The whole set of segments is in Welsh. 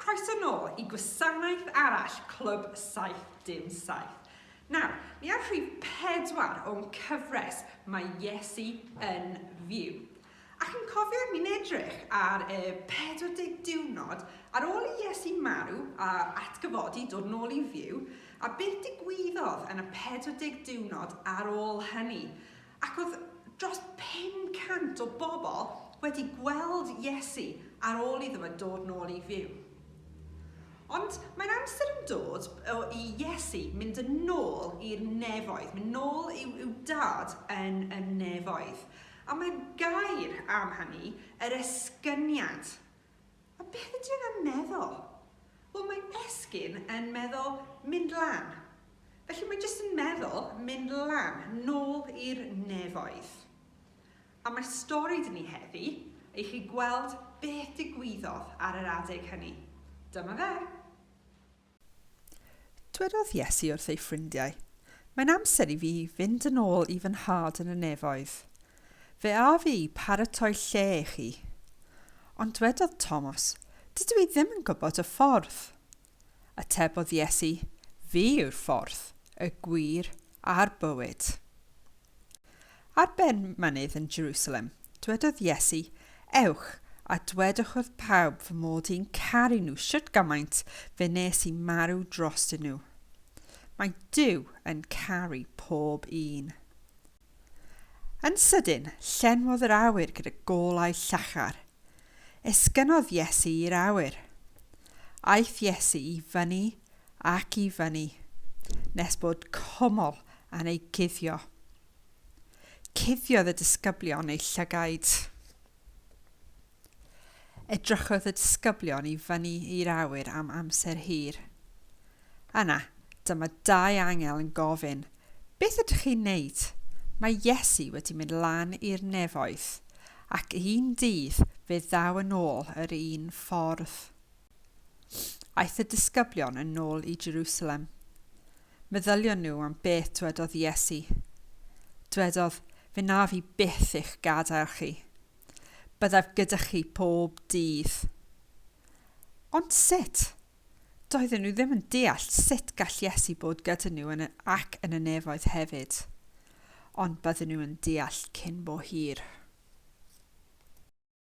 Croeso nôl i gwasanaeth arall Clwb 77. Nawr, ni ar rhif pedwar o'n cyfres mae Iesu yn fyw. A chi'n cofio i ni'n edrych ar y 40 diwrnod ar ôl i Iesu marw a atgyfodi dod yn ôl i fyw, a beth digwyddodd yn y 40 diwrnod ar ôl hynny? Ac oedd dros 500 o bobl wedi gweld Iesu ar ôl iddo fe dod yn ôl i fyw. Ond mae'n amser yn dod i Iesu mynd yn ôl i'r nefoedd, mynd nôl i'w, i'w dad yn y nefoedd. A mae gair am hynny, yr esgyniad. A beth ydy e am meddwl? Wel, mae esgyn yn meddwl mynd lan. Felly mae jyst yn meddwl mynd lan, nôl i'r nefoedd. A mae stori dyn ni heddi, i chi gweld beth digwyddodd ar yr adeg hynny. Dyma fe. Dwedodd Iesu wrth ei ffrindiau, Mae'n amser i fi fynd yn ôl i fy Nhad yn y nefoedd. Fe a fi i paratoi lle i chi. Ond dwedodd Thomas, Dydw i ddim yn gwybod y ffordd. Atebodd Iesu, Fi yw'r ffordd, y gwir, a'r bywyd. Ar ben mynydd yn Jerusalem, dwedodd Iesu, Ewch, a dwedwch wrth pawb fy mod i'n caru nhw shwt gymaint fe nes i marw drostyn nhw. Mae Duw yn caru pob un. Yn sydyn, llenwodd yr awyr gyda golau llachar. Esgynnodd Iesu i'r awyr. Aeth Iesu i fyny ac i fyny, nes bod cwmwl yn ei guddio. Cuddiodd y disgyblion eu llygaid. Edrychodd y disgyblion i fyny i'r awyr am amser hir. Yna, dyma dau angel yn gofyn, Beth ydych chi'n neud? Mae Iesu wedi mynd lan i'r nefoedd, ac un dydd fe ddaw yn ôl yr un ffordd. Aeth y disgyblion yn ôl i Jerusalem. Meddylion nhw am beth dwedodd Iesu. Dwedodd, Fe naf i byth eich gadael chi. Byddaf gyda chi pob dydd. Ond sut? Doedden nhw ddim yn deall sut gall Iesu bod gyda nhw yn y, ac yn y nefoedd hefyd. Ond bydden nhw yn deall cyn bo hir.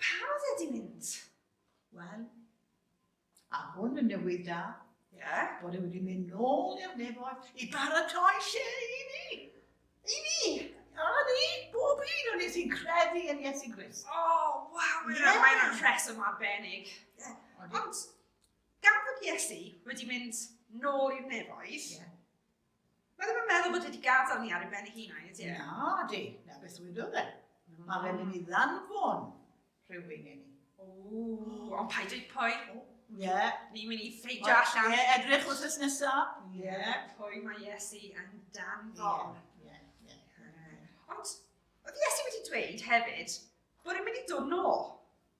Pa radded i mynd? Wel, a hwn yn newydd da, Ie. bod e wedi mynd nôl i'r nefoedd i baratoi lle i ni. I ni! A ni, bob un o'n ni sy'n credu yn Iesu Grist. O, waw, mae'n yeah. mae yna rheswm arbennig. Yeah. Ond, gan bod Iesu wedi mynd nôl i'r nefoedd, yeah. Mae ddim yn meddwl bod wedi gadael ni ar ei ben ei hun, a'i ydy? Na, di. Na, beth dwi'n dod e. Mae fe'n mynd i ddanfon rhywun i ni. O, ond paid ei pwy. Ie. Ni'n mynd i ffeidio allan. Ie, edrych wrth ys nesaf. Ie. Pwy mae Iesu yn danfon. Ie, ie. Ond, oedd Iesu wedi dweud hefyd bod e'n mynd i dod nôl.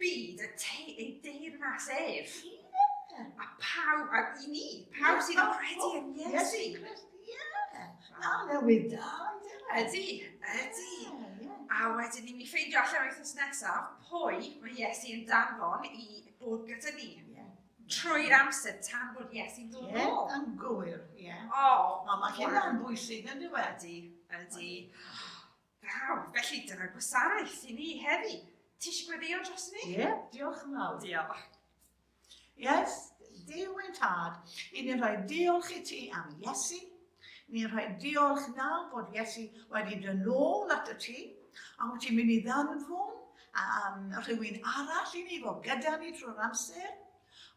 byd y te ei deyrnas ef. Yeah. A pawb, a i ni, pawb sydd yn credu yn Iesu. A newid da, Ydy, ydy. A wedyn ni, mi ffeindio allan wythnos nesaf pwy mae Iesu yn danfon i bod gyda ni. Trwy'r amser tan bod Iesu'n dod yn ôl. Yn gywir, ie. O, mae hynna'n bwysig yn dweud. Ydy, ydy. Braf, felly dyna gwasanaeth i ni heddi. Ti eisiau gweddio dros ni? Ie, yeah, diolch yn fawr. Diolch. Yes, Duw ein tad, i ni'n rhoi diolch i ti am Iesu. Ni'n rhoi diolch nawr bod Iesu wedi dyn nôl at y ti, a wyt ti'n mynd i ddanfwn um, rhywun arall i ni fod gyda ni trwy'r amser.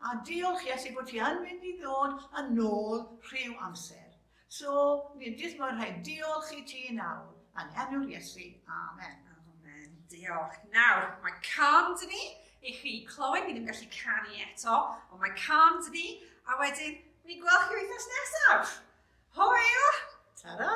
A diolch Iesu bod ti yn mynd i ddod yn ôl rhyw amser. So, fi'n jyst mor rhaid diolch i ti nawr, yn enw'r Iesu, amen. Amen, diolch. Nawr, mae can dyn ni i chi clywed, ni ddim yn gallu canu eto, ond mae can dyn ni, a wedyn, ni'n gweld chi wythnos nesaf. Hwyl! Ta-ra!